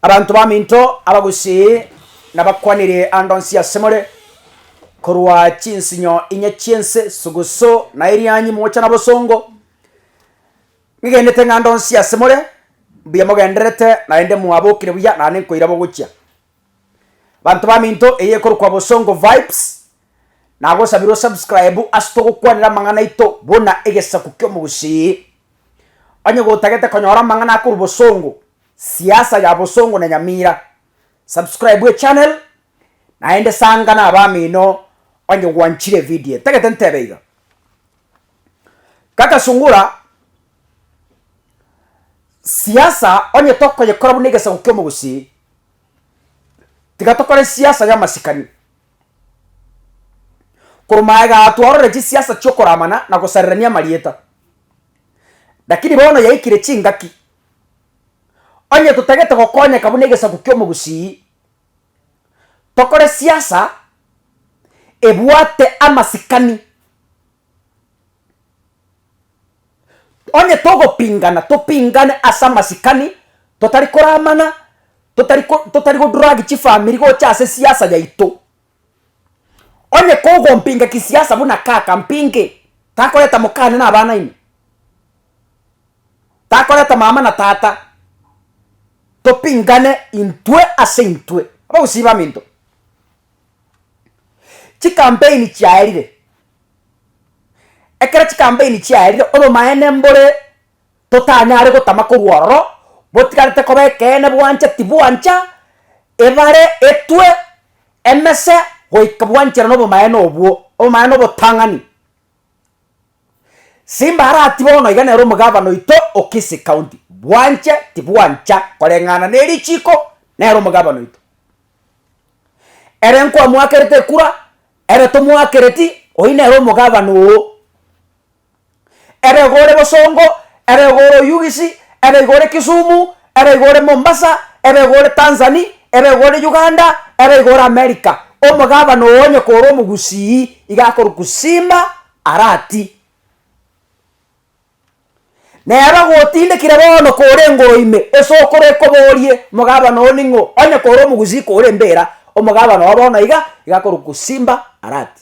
Abanto baminto abagusii nabakwanire ande onsi asemore, korwa chinsinyo inye chi'ense, sugusu na erianyi mocha na bosongo. Nigenete ng'a ande onsi asemore, mbuya mogendererete, naende mwabokire buya, nane nkoira bogochia. Banto baminto eye ekorokwa Bosongo Vibes, nagosabire osubscribe ase togokwanera amang'ana aito buna egesaku ki'omogusii. Onye gotagete konyora amang'ana akorwa Bosongo, siasa ya bosongo na nyamira. Subscribe echannel naende sanga na abamino onye gwanchire evideo tagete ntebe iga. Kaka Sungura, siasa onye tokoyekora buna egesaku kiomogusii, tiga tokore siasa yamasikani. Korwa iga twarorire chisiasa chiokoramana na gosarerania amarieta. Lakini bono yaikire chingaki Onye totagete gokonyeka buna egesaku ki'omogusii, tokore siasa ebwate amasikani. Onye togopingana, topingane ase amasikani, totari koramana, totari ko totari go drag chifamiri gocha ase siasa yaito. Onye kogompinga kisiasa buna kaka mpinge, takoreta mokane na abana ime? Takoreta mama na tata topingane intwe ase intwe abagusii baminto? Chikampeini chiaerire, ekero chikampeini chiaerire obomaene mbore. totanyare gotama korwa ororo, botigarete koba ekeene bwancha tibwancha, ebare, etwe, emese, goika bwanchera nobomaene obwo, obomaene obotang'ani. Simba arati bono iga nere omogavana oito o Kisii County, bwanche tibwancha koreng'ana nerichiko nere omogavana oito. Ere nkoamoakerete ekura, ere tomoakereti, oyio nere omogavana oo. Ere iga ore Bosongo, ere iga ore Oyugisi, ere iga ore Kisumu, ere iga ore Mombasa, ere iga ore Tanzani, ere iga ore Uganda, ere iga ore America. Omogabana oo onye kore omogusii, iga akorwa kusima arati. Nere ogotindekire bono kore engoro ime, ase okore ekoborie, Omogabana oo ning'o? Onye kore omogusii kore mbera, omogabana oo bono iga, iga akorwa kusimba arati.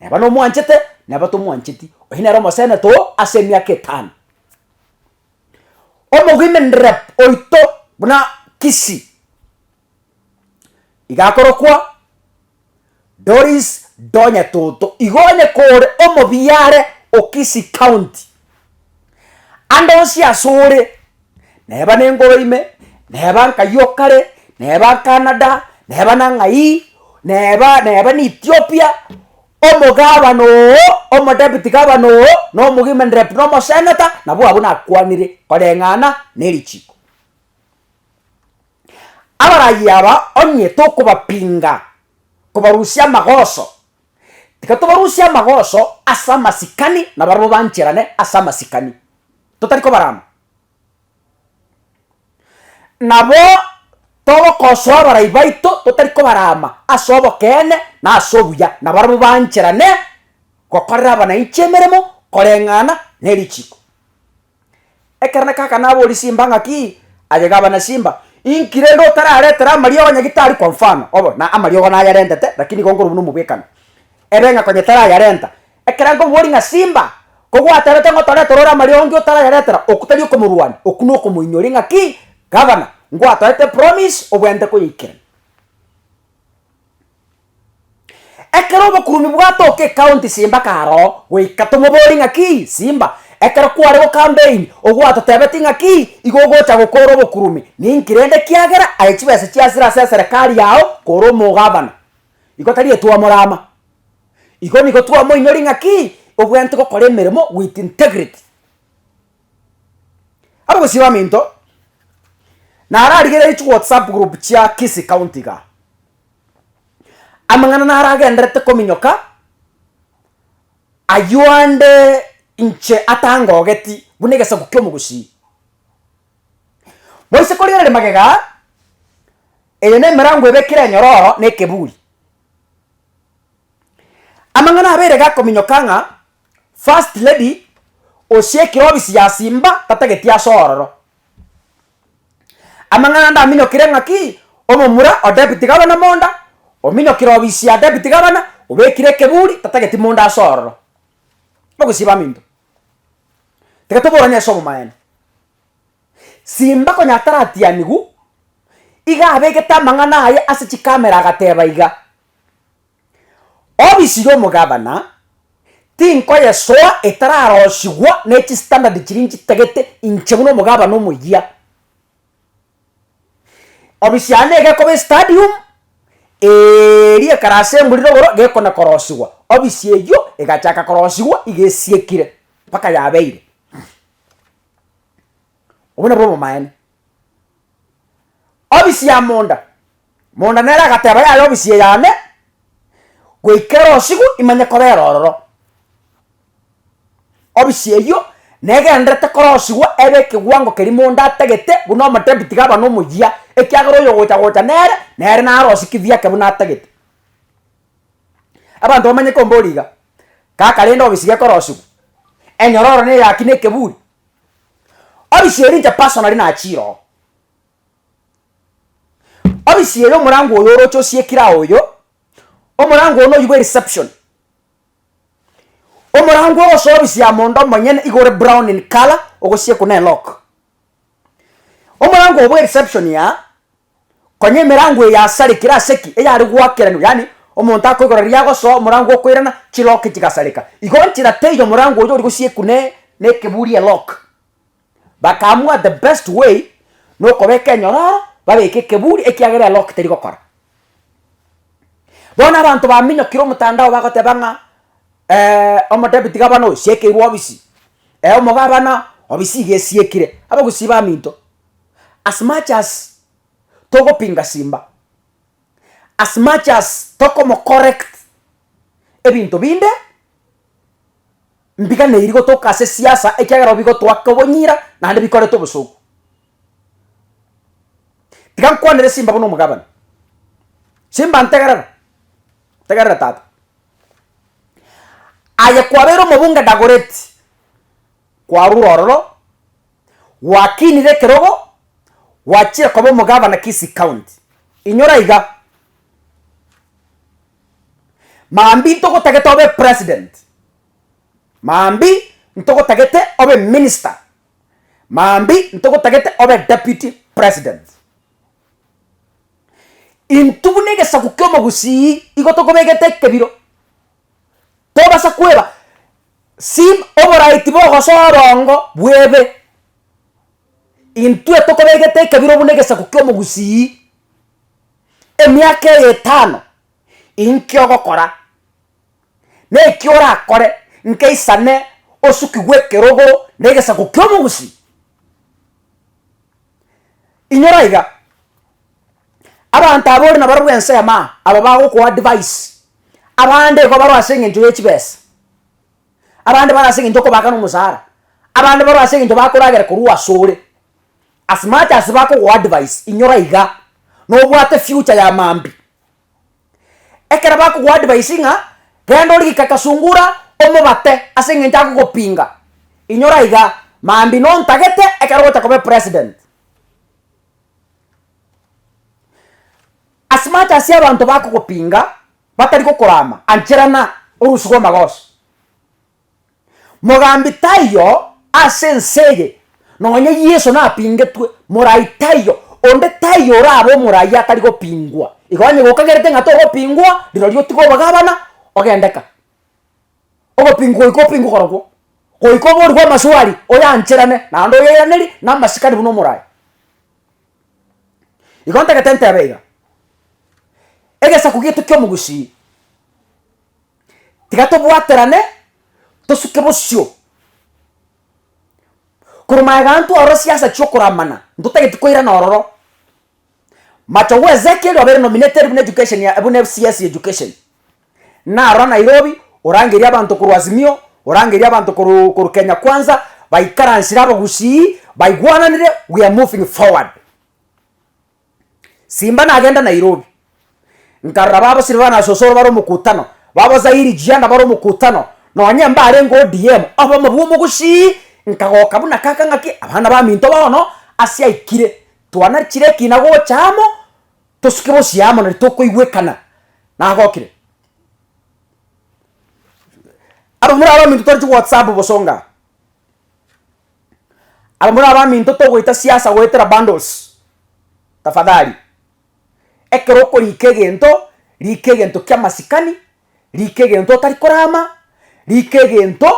Neba nomwanchete, neba tomwancheti, oyio nere omosenete oo ase emiaka etano. Omogwimini rep oito buna Kisii, iga akorokwa Doris Ndonyetoto, igo onye kore omobiare o Kisii County, Ande onsi asore, neba nengoro ime, neba nkayi o kare, neba Canada, neba nang'ai, neba neba na Ethiopia, omogabana oo, omodepity gabana oo, na omogimeni rep na omosenator, nabo abwo nakwanire koreng'ana na erichiko. Abarayia aba onye tokobapinga, kobarusia amagoso. Tiga tobarusie amagoso ase amasikani na barabwo bancherane ase amasikani, totari kobarama. Nabo togokosoa abarai baito totari kobarama ase obokeene na ase obuya, na barabwo bancherane gokorera abananchi emeremo, koreng'ana nerichiiko. Ekero nakaka naboria simba ng'aki aye gabana simba inki rende otararetere amariogo onye gitari kwa mfano obo na amariogo nayarentete lakini igo nkorwa buna omobwekano ere ng'a konye tarayarenta. Ekero akomoboria ng'a simba kogwaterete ng'a otoretere ore amariogo nki otarayaretera oku tari okomorwania oku na okomoinyoria ng'aki gabana ngwatoete promise obwenerete koyaikerania. Ekero obokurubi bwatoka ekaunti simbaka aro goika tomobori ng'aki simba, ekero kware gokambeini ogwatotebeti ng'aki igo ogocha gokora obokurubi ninki rende ekiagera aye chibesa chiasire ase eserekari yao kore omogavana igo tari etwamorama. Igo nigo twamoinori ng'aki obwenerete gokora emeremo with integrity. Are gosii baminto, nararigereiri chiwhatsapp group chia Kisii County igaa. Amang'ana naro agenderete kominyoka, aywo ande inche atangogeti buna egesaku kia omogusii. Moise korigereria magega, eye ne emerango ebekire enyororo na ekeburi. Amang'ana abere iga akominyoka ng'a. First lady osie ekero obisi ya Simba tatageti ase ororo. Amang'ana ndaminyokire ng'aki omomura o deputy governor monda, ominyokire obisi ya deputy governor, obekire ekeburi tatageti monda ase ororo. Nogosiba aminto. Tiga toborane ase obomaene. Simba konya taratianigu, iga abegete amang'ana aye ase chikamera agateba iga, Ofisi y'omogabana tinkoyesoa etararosigwa ne chistandard chiria nchitagete inche buna omogabana omoyia. Ofisi yane nigo ekoba estadium, eeri ekare ase emburi na oboro gekona korosigwa. Ofisi eyio egachaka korosigwa iga esiekire mpaka yabeire. Obwo nabwo obomaene. Obisi ya monda. Monda nere agateba, Yaya obisi eye yane, goika ere osigu imanye kobera ororo. Obisi eyio negenderete korosigwa ebe ekewango keria monda atagete buna omotebi tiga aba nomoyia, ekiagera oyogocha gocha nere, nere naro osie kithii ake buna atagete. Abanto bamanye kombora iga, kaka rende obisi gekorosigwa, enyororo neyaki na ekeburi, Ofisi eri inche personally nachiroo. Ofisi eye omorango oyo oroche osiekire ao oyo, omorango oyo noyio bwe reception. Omorango ogosoa ofisi ya mondo omonyene igo ore brown in colour ogosiekwa ne lock. Omorango oyo bwe reception aa, Konya emerango eye yasarekire ase ki? Eyare goakeranigwa, yaani omonto akoigora riria agosoa omorango okoirana, chilock chigasareka. Igo nchera teiyo omorango oyo ori gosiekwa ne nekeburi elock. Bakaamua the best way nokobeka enyororo babeke ekeburi ekiagera elock teri gokora. Bono abanto baminyokire omotandao bagoteba ng'a omodebiti gabana oyo siekeirwe obisi, omogabana obisi iga esiekire, abagusii baminto as much as togopinga Simba, as much as tokomocorrect ebinto binde, mbiganeiri gotoka ase siasa ekiagera nabo bigotoaka obonyira naende bikorete obosuku. Tiga nkwanere Simba buna omogabana. Simba ntegerera, ntegerera tata. Aye kwabeire omobunge Dagoretti, kwarure ororo. Gwakinire ekerogo, gwachire koba omogavana Kisii County. Inyora iga, Mambi ntogotagete obe President, Mambi ntogotagete obe Minister, Mambi ntogotagete obe Deputy President. Intwe buna egesaku ki'omogusii igo tokobegete ekebiro. Tobasa kweba sim oborai tibogosoa obongo bwebe. Intwe tokobegete ekebiro buna egesaku ki'omogusii, emiaka eye etano, inki ogokora, neki orakore, nkaisane osuki bw'ekerogo na egesaku ki'omogusii. Inyora iga, Abanto aba ore nabarabwo ensemo aa, aba bagokoa advice, abande igo baroo ase eng'encho ye chibesa, abande bare ase eng'encho okobaka na omosara, abande baroo ase eng'encho bakoragera korwa asore, as much as bakogoa advice inyora iga nobwate future ya mambia. Ekero bakogoa advice ng'a renda origika kasungura omobate ase eng'encho agogopinga, inyora iga mambia nontagete ekero ogocha koba epresident. As much as abanto bakogopinga batari gokorama, ancherana orosiu rw'amagoso. Mogambi taiyo ase ense eye, nonye Yeso napingetwe, morai taiyo, onde taiyo orabe omorai atari gopingwa. Igo onye gokagerete ng'a togopingwa, rirorio otige obogabana, ogende ka. Ogopingu goika opingu korokwo, goika oborwe amaswali oyancherane naende oyeraneri namasikani buna omorai. Igo ntagete ntebe iga, egesaku gieto kiomogusii tiga tobwaterane tosuke bosio korwa magega ntwarosie ase chiokoramana ntotageti koirana ororo. Machogu Ezekiel obeire nominated buna education ya buna FCS ya education. Narora Nairobi, orangeria abanto korwa Azimio, orangeria abanto korwa korwa Kenya Kwanza, baikaransire abagusii, baigwananire, we are moving forward. Simba nagenda Nairobi, nkarora baba sire bana Sosoro bare omokutano, baba Zairi Jianda bare omokutano, nonye mbarenge ODM, obomo bwa omogusii, nkagoka buna kaka ng'aki, abana baminto bono, ase aikire, Twanachire ekina gocha amo, tosuke bosio amo, na ritokoigwekana. Nagokire. Abamura abaminto tore chiwhatsapp bosonga. Abamura abaminto togoita siasa goetera bundles. Tafadhali. Ekero okorika egento, rika egento kia masikani, rika egento otari korama, rika egento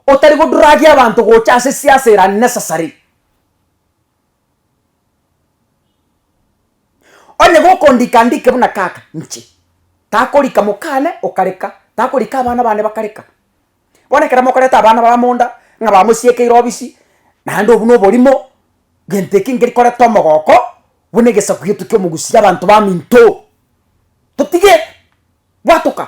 otari godragia abanto gocha ase siasa ere unnecessary. Onye gokondika andike buna tata inche, takorika mokane okareka, takorika abana bane bakareka. Bono ekero mokoreta abana bare amo onda, ng'a bamosiekeire obisi, naende obwo na oborimo, gento eke nkeri koreta omogoko buna egesaku gietu ki'omogusi ki'abanto baminto. Totige bwatoka.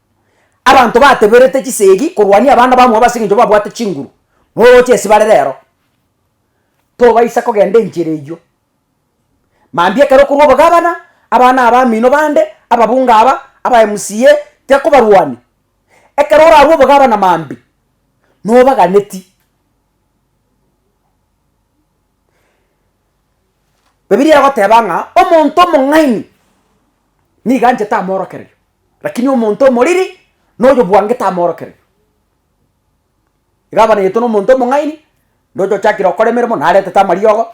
Abanto bateberete chisegi korwania abana bamwabo ase engencho babwate chinguru, na oroche esibare rero. Tobaisa kogenda enchera eyio. Mambia ekero okorwa obogabana, abana abamino bande, ababunge aba, aba MCA, tiakobarwania. Ekero orarwe obogabana mambia, nobaganeti. Bibilia egoteba ng'a omonto omong'aini nigo anchete amoorokererio. Lakini omonto omoriri noyobwangete amorokererio. Iga abanegetwe nomonto omong'aini, ndoche ochakire gokora emeremo naretete amariogo,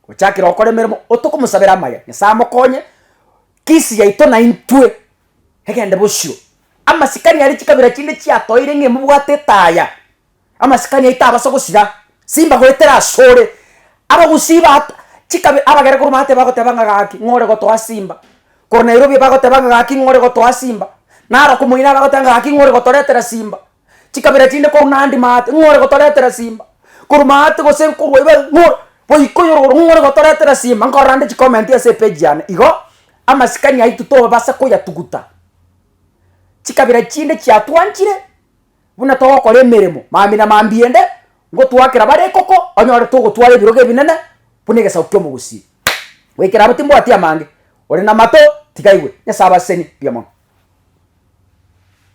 ochakire gokora emeremo otokomosabera amaya, Nyasaye amokonye, kisi yaito naintwe egende bosio. Amasikani aria chikabira chinde chiatoire ng'a emobwate etaya, Amasikani aito abasa gosira, simba goetera asore. Abagusii ba chikabi abagere korwa maate bagoteba ng'a gaki ng'ore gotoa simba, korwa Nairobi bagoteba ng'a gaki ng'ore gotoa simba, Narok moino abagoteba ng'a gaki ng'ore gotoretera simba, chikabira chinde korwa Nandi maate ng'ore gotoretera simba, korwa maate gose nkorwa iga iga ng'o goika oyore igoro ng'ore gotoretera simba nkorora nde chicomment ase epage yane igo, amasikani aito tobasa koyatuguta, chikabira chinde chiatwanchire. Buna togokora emeremo mambi na mambi ende, ngotoakera bare ekoko, onyore togotwara ebirogo ebinene buna egesaku ki'omogusii. Goikera abo timbwati amange. Ore namato, tiga aigwe. Nyasae abasesenie mbuya mono.